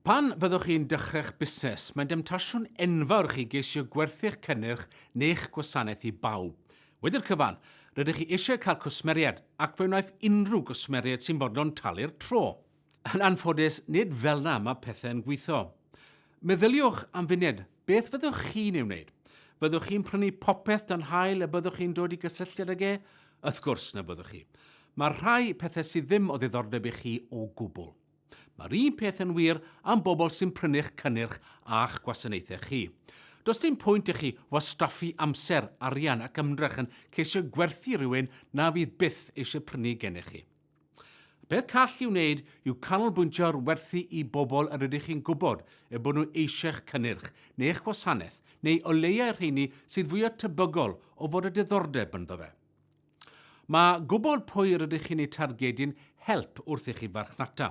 Pan fyddwch chi'n dechreu'ch busnes, mae'n demtasiwn enfawr i chi geisio gwerthu'ch cynnyrch neu'ch gwasanaeth i bawb. Wedi'r cyfan, rydych chi eisiau cael cwsmeriaid, ac fe wnaiff unrhyw gwsmeriaid sy'n fodlon talu'r tro. Yn anffodus, nid fel'na mae pethau'n gweithio. Meddyliwch am funed, beth fyddwch chi'n ei wneud? Fyddwch chi'n prynu popeth dan haul y byddwch chi'n dod i gysylltiad ag e? Wrth gwrs na fyddwch chi. Mae rhai pethau sydd ddim o ddiddordeb i chi o gwbl. Mae'r un peth yn wir am bobl sy'n prynu'ch cynnyrch a'ch gwasanaethau chi. Does dim pwynt i chi wastraffu amser, arian ac ymdrech yn ceisio gwerthu rhywun na fydd byth eisiau prynu gennych chi. Y peth call i'w wneud yw canolbwyntio ar werthu i bobl yr ydych chi'n gwybod eu bod nhw eisiau'ch cynnyrch neu eich gwasanaeth, neu o leiaf i'r rheini sydd fwyaf tebygol o fod â diddordeb ynddo fe. Mae gwybod pwy rydych chi'n eu targedu'n help wrth i chi farchnata.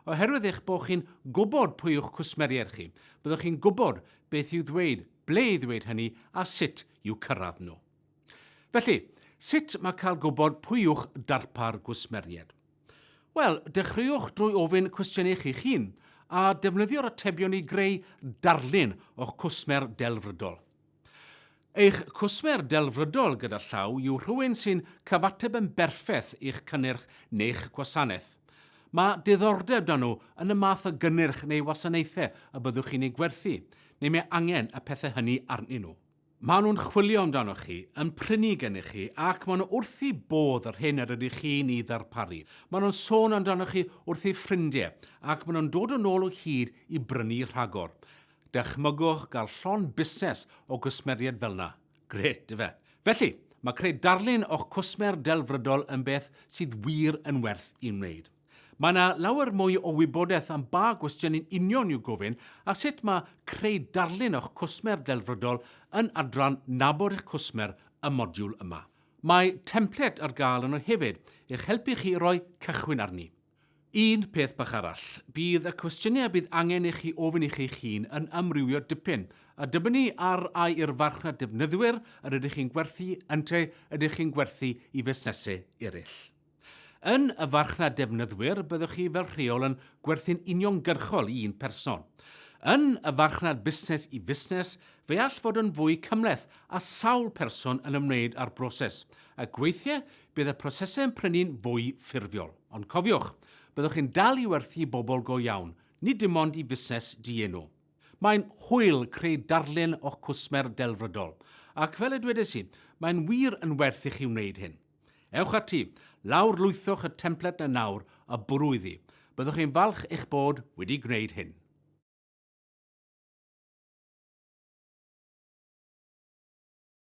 Oherwydd eich bod chi'n gwybod pwy yw'ch cwsmeriaid chi, byddwch chi'n gwybod beth i'w ddweud, ble i ddweud hynny a sut i'w cyrraedd nhw. Felly, sut mae cael gwybod pwy yw'ch darpar gwsmeriaid? Wel, dechreuwch drwy ofyn cwestiynau i chi'ch hun a defnyddio'r atebion i greu darlun o'ch cwsmer delfrydol. Eich cwsmer delfrydol gyda llaw yw rhywun sy'n cyfateb yn berffaith i'ch cynnyrch neu'ch gwasanaeth. Mae diddordeb 'da nhw yn y math o gynnyrch neu wasanaethau y byddwch chi'n eu gwerthu, neu mae angen y pethau hynny arnyn nhw. Maen nhw'n chwilio amdanoch chi, yn prynu gennych chi, ac maen nhw wrth eu bodd yr hyn yr ydych chi'n ei ddarparu. Maen nhw'n sôn amdanoch chi wrth eu ffrindiau, ac maen nhw'n dod yn ôl o hyd i brynu rhagor. Dychmygwch gael llond busnes o gwsmeriaid fel 'na. Grêt, ife? Felly, mae creu darlun o'ch cwsmer delfrydol yn beth sydd wir yn werth ei wneud. Mae yna lawer mwy o wybodaeth am ba gwestiynau'n union i'w gofyn a sut mae creu darlun o'ch cwsmer delfrydol yn adran Nabod eich Cwsmer y modiwl yma. Mae templed ar gael yno hefyd i'ch helpu chi i roi cychwyn arni. Un peth bach arall, bydd y cwestiynau a bydd angen i chi ofyn i chi'ch hun yn amrywio dipyn. A dibynnu ar a yw'r farchnad defnyddwyr yr ydych chi'n gwerthu yntau ydych chi'n gwerthu i fusnesau eraill. Yn y farchnad defnyddwyr, byddwch chi fel rheol yn gwerthu'n uniongyrchol i un person. Yn y farchnad busnes i fusnes, fe all fod yn fwy cymhleth a sawl person yn ymwneud â'r broses, ac weithiau Bydd y prosesau yn prynu'n fwy ffurfiol. Ond cofiwch, byddwch chi'n dal i werthu i bobl go iawn, nid dim ond i fusnes dienw. Mae'n hwyl creu darlun o'ch cwsmer delfrydol, ac fel y dwedais i, mae'n wir yn werth i chi wneud hyn. Ewch ati, lawrlwythwch y templed 'na nawr a bwrw iddi. Byddwch chi'n falch eich bod wedi gwneud hyn.